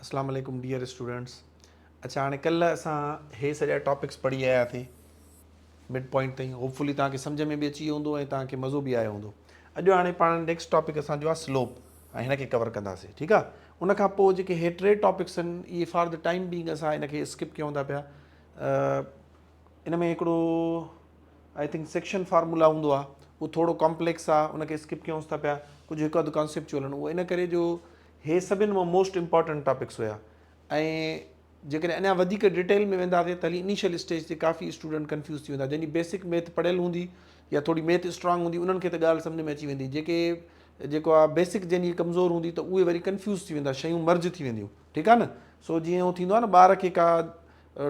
اسلام عليڪم dear students اڇا هاڻي ڪلهه اسان هي سڄا ٽاپڪس پڙهي آيا ٿي مڊ پوائنٽ تائين هوپ فلي توهان کي سمجھ ۾ به اچي ويو هوندو ۽ توهان کي مزو به آيو هوندو اڄ هاڻي پاڻ نيڪسٽ ٽاپڪ اسان جو آهي سلوپ ۽ هن کي ڪور ڪنداسين ٺيڪ آهي ان کان پوء جيڪي هي ٽي ٽاپڪس آهن اهي فار د ٽائيم بينگ اسان هن کي اسڪپ ڪيون ٿا پيا ان ۾ هڪڙو آئي ٿنڪ سيڪشن فارمولا هوندو آهي اهو ٿورو ڪامپليڪس آهي ان کي اسڪپ ڪيونس ٿا پيا ڪجهه هڪ اڌ ڪانسيپچوئل آهن اهو ان ڪري جو هي سڀن مان موسٽ امپارٽنٽ ٽاپڪس هيا ۽ جيڪڏهن اڃا وڌيڪ ڊيٽيل ۾ وينداسين ته هلي انيشل اسٽيج تي ڪافي اسٽوڊنٽ ڪنفيوز ٿي ويندا جن جي بيسڪ ميٿ پڙهيل هوندي يا ٿوري ميٿ اسٽرانگ هوندي انهن کي ته ڳالهه سمجهه ۾ اچي ويندي جيڪي جيڪو آهي بيسڪ جن جي ڪمزور هوندي ته اهي وري ڪنفيوز ٿي ويندا شيون مرج ٿي وينديون ٺيڪ آهي نه سو جيئن هو ٿيندو آهي نه ٻار کي ڪا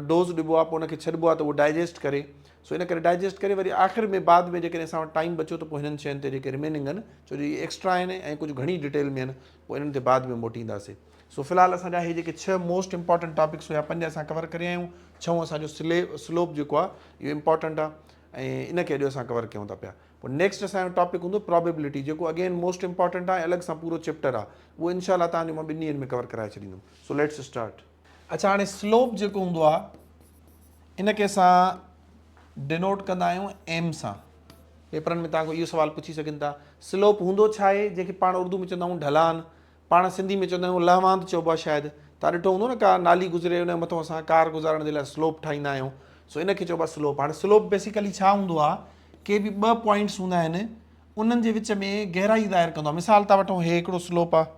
ڊوز ڏبو آ پوء ان کي ڇڏبو آ ته اهو ڊائجسٽ ڪري سو ان ڪري ڊائجسٽ ڪري وري آخر ۾ بعد ۾ جيڪڏهن اسان وٽ ٽائيم بچيو ته پوء هنن شين تي جيڪي رميننگ آهن ڇو جو اهي ايڪسٽرا آهن ۽ ڪجهه گهڻي ڊيٽيل ۾ آهن پوء انهن تي بعد ۾ موٽينداسي سو في الحال اسان جا اهي جيڪي ڇهه موسٽ امپارٽنٽ ٽاپڪس هيا پنج اسان ڪور ڪري آيون ڇهون اسان جو سلي سلوپ جيڪو آ اهو امپارٽنٽ آ ۽ ان کي اڄ اسان ڪور ڪيون ٿا پيا پوء نيڪسٽ اسان جو ٽاپڪ هوندو پرابيبلٽي جيڪو اگين موسٽ امپارٽنٽ آ ۽ الڳ سان پورو چيپٽر آ اهو انشاء الله تهان جو مان ٻن ڏينهن ۾ ڪور ڪرائي ڇڏيندم سو ليٽس اسٽارٽ اڇا هاڻي سلوپ جيڪو هوندو آ ان کي اسان ڊينوٽ ڪندا آهيون ايم سان پيپرن ۾ توهان کان اهو سوال پڇي سگهن ٿا سلوپ هوندو ڇا آهي جنهن کي پاڻ اردو ۾ چوندا آهيون ڍلان پاڻ سنڌي ۾ چوندا آهيون لهواند چئبو آهي شايد توهان ڏٺو هوندو نه ڪا نالي گذري ان مٿو اسان ڪار گذارڻ جي لاء سلوپ ٺاهيندا آهيون سو ان کي چئبو آهي سلوپ هاڻي سلوپ بيسيڪلي ڇا هوندو آهي ڪي به ٻه پوائنٽس هوندا آهن انهن جي وچ ۾ گهرائي ظاهر ڪندو آهي مثال تان وٺو هي هڪڙو سلوپ آهي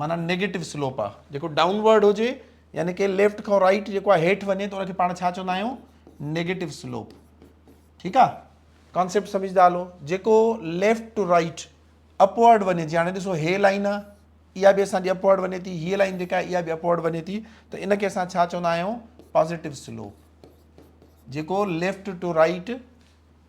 معنيٰ نيگيٽو سلوپ آ جيڪو ڊائون ورڊ هجي يعني ڪي ليفٽ کان رائٽ جيڪو آ هيٺ وڃي ته ان کي پاڻ ڇا چوندا آهيون نيگيٽو سلوپ ٺيڪ آ ڪانسيپٽ سمجھدا هلو جيڪو ليفٽ ٽو رائٽ اپورڊ وڃي جي هاڻي ڏسو هي لائن آ اها به اسان جي اپورڊ وڃي ٿي هي لائن جيڪا اها به اپورڊ وڃي ٿي ته ان کي اسان ڇا چوندا آهيون پازيٽو سلوپ جيڪو ليفٽ ٽو رائٽ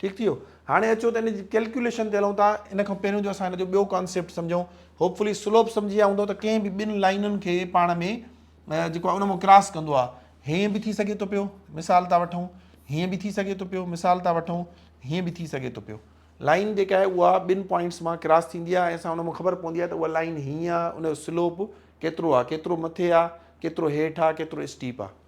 ٺيڪ ٿي ويو هاڻي اچو ته ان جي ڪيلڪيوليشن تي هلون ٿا ان کان پهريون جو اسان ان جو ٻيو ڪانسيپٽ سمجهون هوپ فلي سلوپ سمجهي ويا هوندو ته ڪنهن به ٻن لائنن کي پاڻ ۾ جيڪو آه ان مان ڪراس ڪندو آه هيئن به ٿي سگهي ٿو پيو مثال ٿا وٺون هيئن به ٿي سگهي ٿو پيو مثال ٿا وٺون هيئن به ٿي سگهي ٿو پيو لائن جيڪا آهي اها ٻن پوائنٽس مان ڪراس ٿيندي آهي اسان ان مان خبر پوندي آهي ته اها لائن هيئن آهي ان جو سلوپ ڪيترو آهي ڪيترو مٿي آهي ڪيترو هيٺ آهي ڪيترو اسٽيپ آهي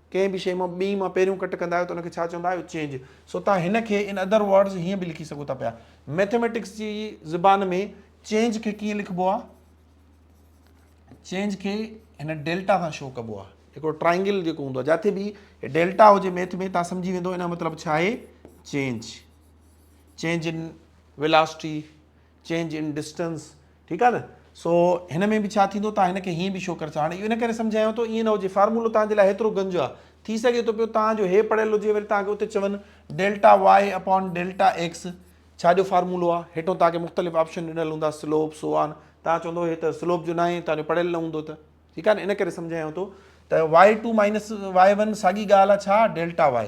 ڪنهن به شيء مان ٻيء مان پهريون ڪٽ ڪندا آهيو ته ان کي ڇا چوندا آهيو چينج سو توهان هن کي ان ادر ورڊز هيئن به لکي سگهو ٿا پيا ميٿيميٽڪس جي زبان ۾ چينج کي ڪيئن لکبو آهي چينج کي هن ڊيلٽا سان شو ڪبو آهي هڪڙو ٽرائنگل جيڪو هوندو آهي جتي به ڊيلٽا هجي ميٿ ۾ تان سمجهي ويندو ان جو مطلب ڇا آهي change change in velocity change in distance ٺيڪ آ نه سو هن ۾ به ڇا ٿيندو تان هن کي هيئن به شو ڪري ٿا هاڻي اهو ان ڪري سمجهايان ٿو ايئن نه هجي فارمولو تان جي لاء هيترو گنج آ ٿي سگهي ٿو پيو تان جو هي پڙهيل هجي وري تان کي اتي چون delta y upon delta x ڇا جو فارمولو آ هيٺون تان کي مختلف آپشن ڏنل هوندا سلوپ سو آن تان چوندو هي ته سلوپ جو ناهي تان جو پڙهيل نه هوندو ته ٺيڪ آ نه ان ڪري سمجهايان ٿو ته y two minus y one ساڳي ڳالهه آ ڇا ڊيلٽا واء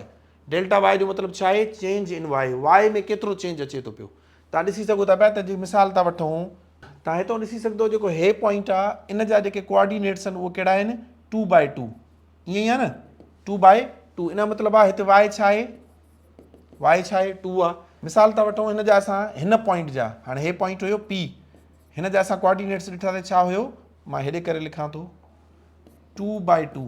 ڊيلٽا واء جو مطلب ڇا آهي چينج ان واء واء ۾ ڪيترو چينج اچي ٿو پيو توهان ڏسي سگهو ٿا پيا ته جي مثال ٿا وٺون. توهان هتان ڏسي سگهدو جيڪو هي پوائنٽ آ ان جا جيڪي ڪوآرڊينيٽس آهن اهي ڪهڙا آهن ٽو بائي ٽو ائين ئي آ نه ٽو بائي ٽو ان جو مطلب آ هتي وائي ڇا آهي وائي ڇا آهي ٽو آ مثال ٿا وٺون هن جا اسان هن پوائنٽ جا هاڻي هي پوائنٽ هيو پي هن جا اسان ڪوآرڊينيٽس ڏٺا ته ڇا هيو مان هيڏي ڪري لکان ٿو ٽو بائي ٽو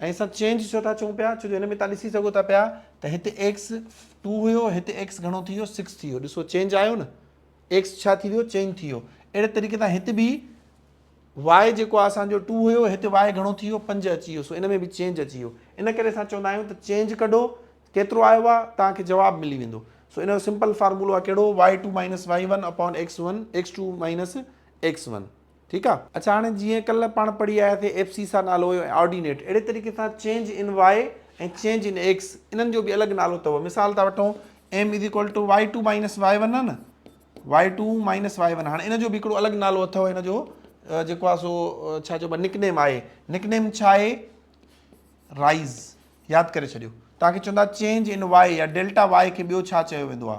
۽ اسان چينج ڇو ٿا چئون پيا؟ ڇو جو هن ۾ تان ڏسي سگهو ٿا پيا ته هتي ايڪس ٽو هيو هتي ايڪس گهڻو ٿي ويو سڪس ٿي ويو ڏسو چينج آيو نه ايڪس ڇا ٿي ويو چينج ٿي ويو اهڙي طريقي سان هت به واء جيڪو آهي اسان جو ٽو هيو هتي واء گهڻو ٿي ويو پنج اچي ويو سو ان ۾ به چينج اچي ويو ان ڪري اسان چوندا آهيون ته چينج ڪڍو ڪيترو آيو آهي تان کي جواب ملي ويندو سو ان جو سمپل فارمولو آهي ڪهڙو y two minus y one upon x one x two minus x one ٺيڪ آ. اڇا هاڻي جيئن ڪلهه پاڻ پڙهي آياسي ايف سي سا نالو هيو ۽ آرڊينيٽ اهڙي طريقي سان change in y ۽ change in x انهن جو به الڳ نالو اٿو مثال ٿا وٺون m is equal to y two minus y one آ نه y two minus y one هاڻي ان جو به هڪڙو الڳ نالو اٿو هن جو جيڪو آ سو ڇا چئبو آ نڪ نيم آهي نڪ نيم ڇا آهي رائز ياد ڪري ڇڏيو توهان کي چوندا چينج ان واء يا ڊيلٽا واء کي ٻيو ڇا چيو ويندو آ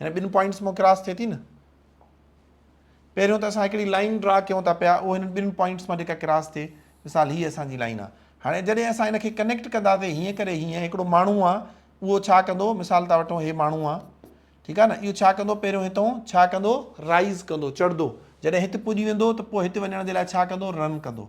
هن ٻن پوائنٽس مون ڪراس ٿئي ٿي نه پهريون ته اسان هڪڙي لائن ڊرا ڪيون ٿا پيا اهو هن ٻن پوائنٽس مان جيڪا ڪراس ٿئي مثال هي اسان جي لائن آ هاڻي جڏهن اسان هن کي ڪنيڪٽ ڪنداسي هيئن ڪري هيئن هڪڙو ماڻهو آ اهو ڇا ڪندو مثال ٿا وٺون هي ماڻهو آ ٺيڪ آ نه اهو ڇا ڪندو پهريون هتون ڇا ڪندو رائز ڪندو چڙهندو جڏهن هت پڄي ويندو ته پوء هت وڃڻ جي لاء ڇا ڪندو رن ڪندو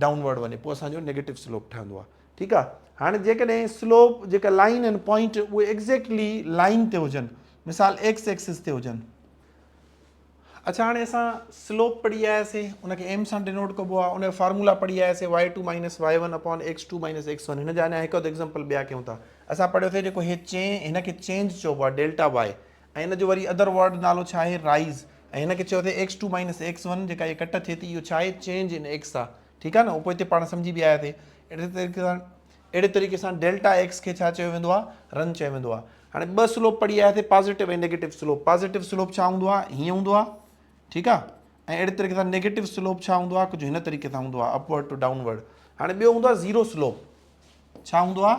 ڊائون ورڊ وڃي پوء اسان جو نيگيٽو سلوپ ٺهندو آهي ٺيڪ آهي هاڻي جيڪڏهن سلوپ جيڪا لائين آهن پوائنٽ اهي ايگزيڪٽلي لائين تي هجن مثال ايڪس ايڪسس تي هجن اچھا هاڻي اسان سلوپ پڙهي آياسين ان کي ايم سان ڊينوٽ ڪبو آهي ان جو فارمولا پڙهي آياسين y two minus y one upon x two minus x one هن جا اڃا هڪ اڌ ايگزامپل ٻيا ڪيون ٿا اسان پڙهيو ٿي جيڪو هي چين هن کي چينج چئبو آهي ڊيلٽا واء ۽ ان جو وري ادر ورڊ نالو ڇا آهي رائيز ۽ هن کي چئو اٿي x two minus x one جيڪا هيء ڪٽ ٿئي ٿي اهو ڇا آهي چينج ان ايڪس آهي ٺيڪ آهي نه پوء هتي پاڻ سمجهي به آيا ٿي اهڙي طريقي سان اهڙي طريقي سان ڊيلٽا ايڪس کي ڇا چيو ويندو آهي رن چيو ويندو آهي هاڻي ٻه سلوپ پڙهي آيا ٿي positive ۽ negative slope positive slope ڇا هوندو آهي هيئن هوندو آهي ٺيڪ آهي ۽ اهڙي طريقي سان نيگيٽو سلوپ ڇا هوندو آهي ڪجهه هن طريقي سان هوندو آهي اپورڊ ٽو ڊائونورڊ هاڻي ٻيو هوندو آهي زيرو سلوپ ڇا هوندو آهي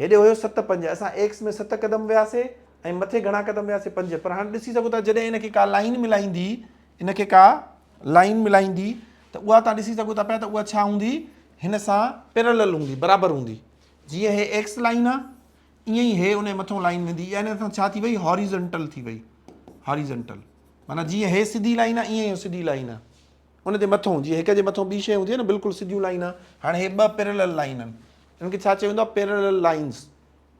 هيڏي هيو ست پنج اسان ايڪس ۾ ست قدم وياسي ۽ مٿي گهڻا قدم وياسي پنج پر هاڻ ڏسي سگهو ٿا جڏهن ان کي ڪا لائين ملائيندي ان کي ڪا لائين ملائيندي ته اها تان ڏسي سگهو ٿا پيا ته اها ڇا هوندي هن سان پيرلل هوندي برابر هوندي جيئن هي ايڪس لائين آ ائين ئي هي ان مٿو لائين ويندي ان سان ڇا ٿي وئي هاريزنٽل ٿي وئي هاريزنٽل معنيٰ جيئن هي سڌي لائين آ ائين ئي سڌي لائين آ ان جي مٿون جيئن هڪ جي مٿون ٻي شيء هوندي آهي نه بلڪل سڌيون لائينا هاڻي هي ٻه پيرلل لائين آهن ان کي ڇا چيو ويندو آهي پيرلل لائينز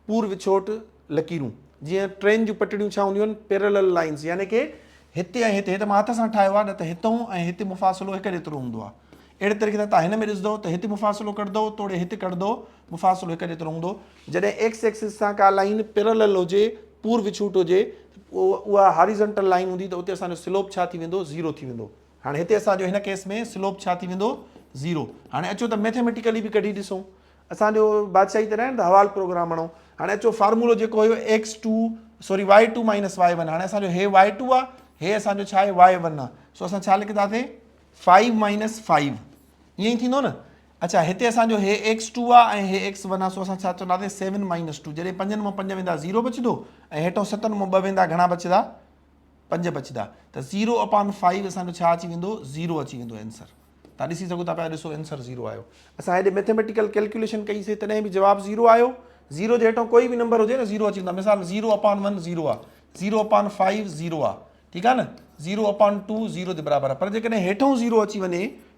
پور وڇوٽ لڪيرون جيئن ٽرين جون پٽڙيون ڇا هونديون آهن پيرلل لائينز يعني ڪي هتي ۽ هتي هي ته مان هٿ سان ٺاهيو آهي نه ته هتون ۽ هتي مفاصلو هڪ جيترو هوندو آهي اهڙي طريقي سان تان هن ۾ ڏسندو ته هتي مفاصلو ڪڍندو توڙي هتي ڪڍندو مفاصلو هڪ جيترو هوندو جڏهن ايڪس ايڪسس سان ڪا لائين پيرالل هجي، پور وڇوٽ هجي، ته اها هاريزنٽل لائين هوندي ته اتي اسان جو سلوپ ڇا ٿي ويندو؟ زيرو ٿي ويندو. هاڻي هتي اسان جو هن ڪيس ۾ سلوپ ڇا ٿي ويندو؟ زيرو. هاڻي اچو ته ميٿيميٽيڪلي به ڪڍي ڏسون. اسان جو بادشاهي ته ناهي نه ته حوال پروگرام هڻئون. هاڻي اچو فارمولو جيڪو هيو x two sorry y two minus y one هاڻي اسان جو هي وائي ٽو آهي هي اسان جو ڇا آهي وائي ون آهي سو اسان ڇا لکنداسين فائيو مائنس فائيو ائين ئي ٿيندو نه اڇا هتي اسان جو هي ايڪس ٽو آ ۽ هي ايڪس ون آ سو اسان ڇا چونداسين سيون مائنس ٽو جڏهن پنجن مان پنج ويندا زيرو بچدو ۽ هيٺون ستن مان ٻه ويندا گهڻا بچدا پنج بچدا ته زيرو اپان فائيو اسان جو ڇا اچي ويندو زيرو اچي ويندو آنسر تان ڏسي سگهو ٿا پيا ڏسو آنسر زيرو آيو اسان هيڏي ميٿيميٽيڪل ڪيلڪيوليشن ڪئي سي تڏهن به جواب زيرو آيو زيرو جي هيٺون ڪوئي به نمبر هجي نه زيرو اچي ويندو مثال زيرو اپان ون زيرو آ زيرو اپان فائيو زيرو آ ٺيڪ آ نه زيرو اپان ٽو زيرو جي برابر آ پر جيڪڏهن هيٺون زيرو اچي وڃي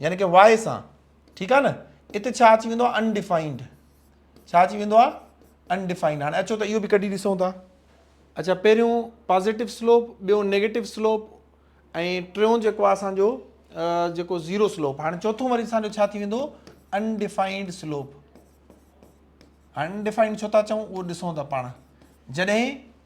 يعني ڪه واء سان ٺيڪ آ نه ات ڇا اچي ويندو آ Undefined ڇا اچي ويندو آ Undefined هاڻي اچو ته اهو به ڪڍي ڏسون ٿا اچا پهريون پازيٽو سلوپ ٻيو نيگيٽو سلوپ ۽ ٽيون جيڪو آ اسان جو جيڪو زيرو سلوپ هاڻي چوٿون وري اسان جو ڇا ٿي ويندو Undefined سلوپ Undefined ڇو ٿا چئون اهو ڏسون ٿا پاڻ جڏهن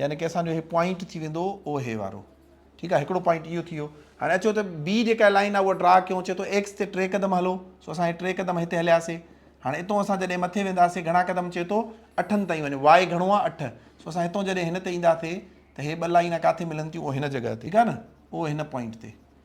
يعني ڪي اسان جو هي پوائنٽ ٿي ويندو او هي وارو ٺيڪ آهي هڪڙو پوائنٽ اهو ٿي ويو هاڻي اچو ته بي جيڪا لائن آهي اها ڊرا ڪيون چي ٿو ايڪس تي ٽي قدم هلو سو اسان هي ٽي قدم هتي هلياسي هاڻي اتو اسان جڏهن مٿي وينداسي گهڻا قدم چي ٿو اٺن تائين وڃو واء گهڻو آهي اٺ سو اسان هتو جڏهن هن تي اينداسي ته هي ٻه لائنا ڪاٿي ملن ٿيون او هن جڳهه تي ٺيڪ آهي نه او هن پوائنٽ تي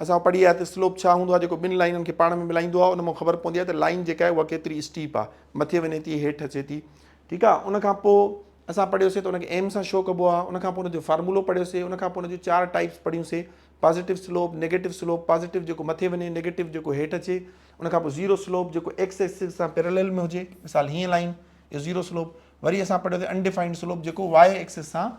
اسان پڙهي آيا ته سلوپ ڇا هوندو آهي جيڪو ٻن لائينن کي پاڻ ۾ ملائيندو آهي ان مان خبر پوندي آهي ته لائين جيڪا آهي اها ڪيتري اسٽيپ آهي مٿي وڃي ٿي هيٺ اچي ٿي ٺيڪ آهي ان کان پوء اسان پڙهيوسي ته ان کي ايم سان شو ڪبو آهي ان کان پوء ان جو فارمولو پڙهيوسي ان کان پوء ان جون چار ٽائپس پڙهيوسي positive slope negative slope positive جيڪو مٿي وڃي نيگيٽو جيڪو هيٺ اچي ان کان پوء زيرو سلوپ جيڪو ايڪس ايڪسس سان پيرلل ۾ هجي مثال هيئن لائين اهو زيرو سلوپ وري اسان پڙهيوسي انڊيفائنڊ سلوپ جيڪو واء ايڪسس سان